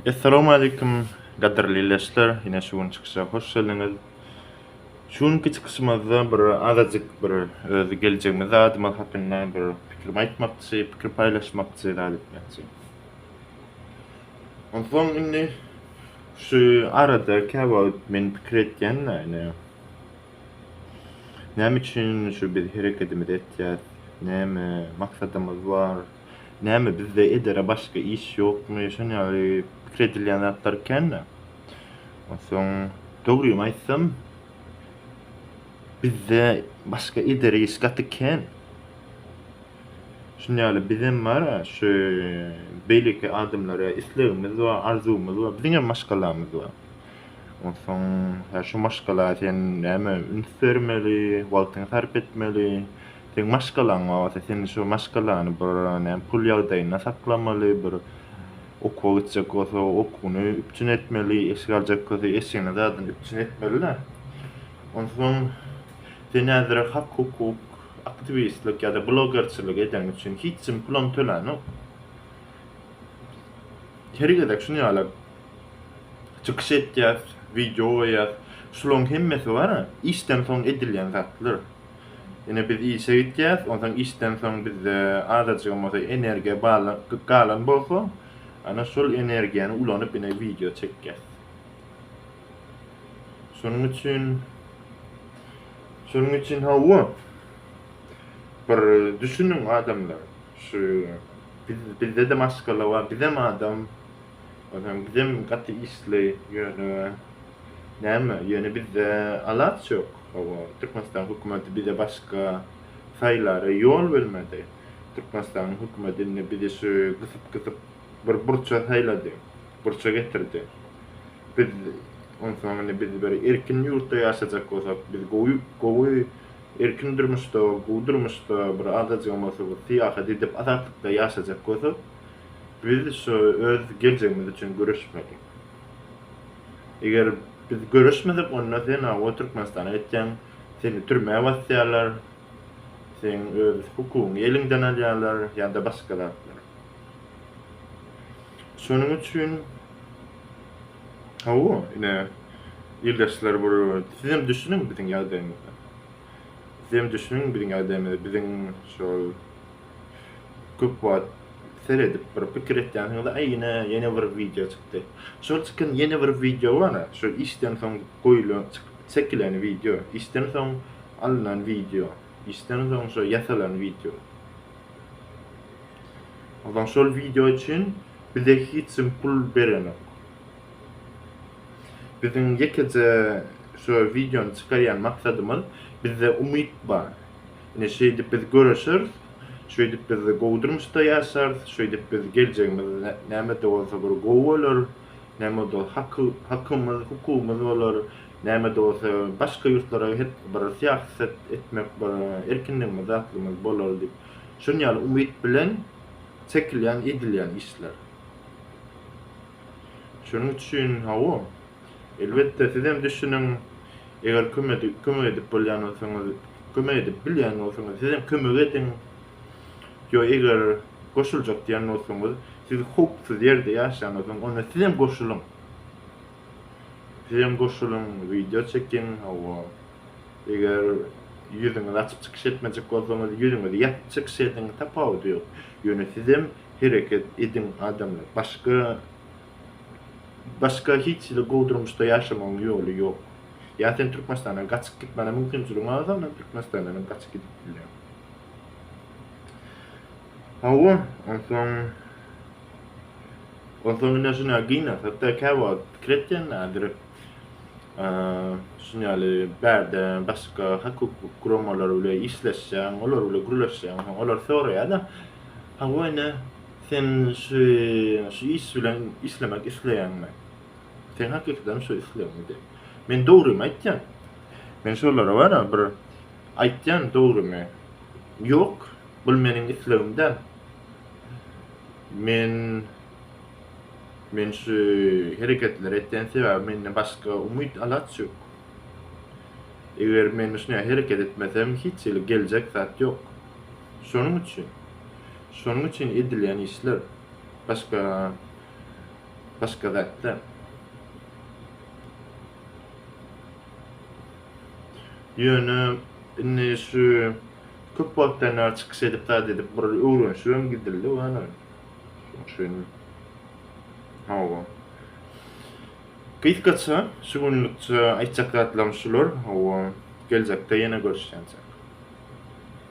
Essalamu aleýkum gadyrly leşler ýene şu gün çykyşa hoş geldiňiz. Şu günki çykyşymyzda bir azajyk bir özi geljegimiz adymyz hakynda bir pikirimi aýtmakçy, pikir paýlaşmakçy zat etmekçi. Onsoň indi şu arada käwagt men pikir etýän ýaly näme üçin şu biz herekedimizi etýäs, näme maksadymyz bar, Näme, bizde edere başga iş ýokmy, şon ýaly pikir edilýän zatlar ekeni. Onsoň, dogrymy aýtsam, bizde başga edere iş gaty kän. Şon ýaly bizem bar-a, şu beýleki adamlara islegimiz bar, arzuwymyz bar, biziňem maşgalamyz bar. Onsoň, hä, şu maşgala sen näme üns bermeli, wagtyňy sarp etmeli. Seň maşgalaň bolsa, sen şo maşgalany bir näme pul ýagdaýynda saklamaly, bir okuwa gitjek bolsa, okuwyny üpjün etmeli, eşik aljak bolsa, eşigini zadyn üpjün etmeli-dä. Onsoň sen häzire hak-hukuk, aktiwistlik ýa-da blogerçilik edeň üçin hiç kim puluny tölänok. Her gezek şuny ýaly çykyş etýäs, wideo goýýas. Şularyň hemmesi bar-a, işden soň edilýän zatlar. Ine biz işe gitýäs, onsoň işden soň bizde azajygam bolsa energiýa galan bolsa, ana şol energiýany ulanyp ine wideo çekýäs. Şonuň üçin Şonuň üçin hawa. Bir düşüniň adamlar. Şu biz bizde de maşgala bar, bizem adam. Onsoň bizem gaty işli ýöne näme, ýöne bizde alaç ýok. Hawa, Türkmenistan hökümeti bize başga saýlara ýol bermedi. Türkmenistanyň hökümeti indi bizi şu gysyp-gysyp bir burça saýlady, burça getirdi. Biz, onsoň indi biz bir erkin ýurtda ýaşajak bolsak, biz gowy, gowy erkin durmuşda, gowy durmuşda bir azajygam bolsa bir syýahat edip, azatlykda ýaşajak bolsak, biz şu öz geljegimiz üçin göreşmeli. Eger biz göreşmesek onda sen hawa Türkmenistana gitýäň, seni türmä basýarlar, seň öz hukugyňy eliňden alýarlar ýa-da başga zatlar. Şonuň üçin hawa ine ildeşler bir sizem düşüniň biziň ýagdaýymyza. Sizem düşüniň biziň ädemize biziň şol köp wagt seredip bir pikir etýänsiňiz aý ine ýene bir wideo çykdy. Şol çykan ýene bir wideo bar-a şol işden soň goýlan çekilen wideo işden soň alnan wideo işden soň şo ýasalan wideo. Onsoň şol wideo üçin bize hiç kim pul berenok. Biziň ýekeje şu wideony çykarýan maksadymyz, bizde umyt bar. Ine şeýdip biz göreşeris, şeýdip biz gowy durmuşda ýaşarys, şeýdip biz geljegimiz näme-de bolsa bir gowy bolar, näme-de hakymyz, hukugymyz bolar, näme-de bolsa başga ýurtlara gidip bir syýaset etmek bir erkinligimiz, atlygymyz bolar diýip, şuny ýaly umyt bilen çekilýän, edilýän işler. Şonuň üçin, hawa, elbetde, sizem düşüniň, eger kömek edip bolýan bolsaňyz, kömek edip bilýän bolsaňyz, sizem kömek ediň. Ýa eger goşuljak diýen bolsaňyz, siz howpsuz ýerde ýaşaňyzdan, onda sizem goşulyň. Sizem goşulyň, wideo çekiň, hawa. Eger ýüzüňizi açyp çykyş etmejek bolsaňyz, ýüzüňizi ýapyp çykyş ediň, tapawudy ýok. Ýöne sizem hereket ediň adamlar başga başga hiç hili gowy durmuşda ýaşamagyň ýoly ýok ýa sen türkmenistandan gaçyk git mana mümkinçiligiň az ondan türkmenistandan hem gaçyk gidip bilýäň hawa onsoň onsoň ine şuna gyna hatda käwagt kret diýenlerdir şun ýaly bärde başga hak hukuk guramalar bile işleşýäň olar bile gürleşýäň olar soraýada Hawa ine, sen şu şu iş bilen işlemek isleýäňmi? Seň hakykatam şu islegiňmi diýip. Men dogrymy aýtýan. Men şolara bara bir aýtýan dogrymy. Ýok, bul meniň islegim däl. Men men şu hereketleri etýän sebäbi mende başga umyt alaç ýok. Eger men şuny hereket etmesem hiç hili geljek zat ýok. Şonuň üçin, şonuň üçin edilýän işler, başga, başga zatlar. Ýöne indi şu köp wagtdan bäri çykyş edip zat edip bir öwrenişibem gidildi wany. Şonuň üçin hawa. Gysgaça şu günlükçe aýtjak zatlarym şular, hawa. Geljekde ýene görüşýänçäk.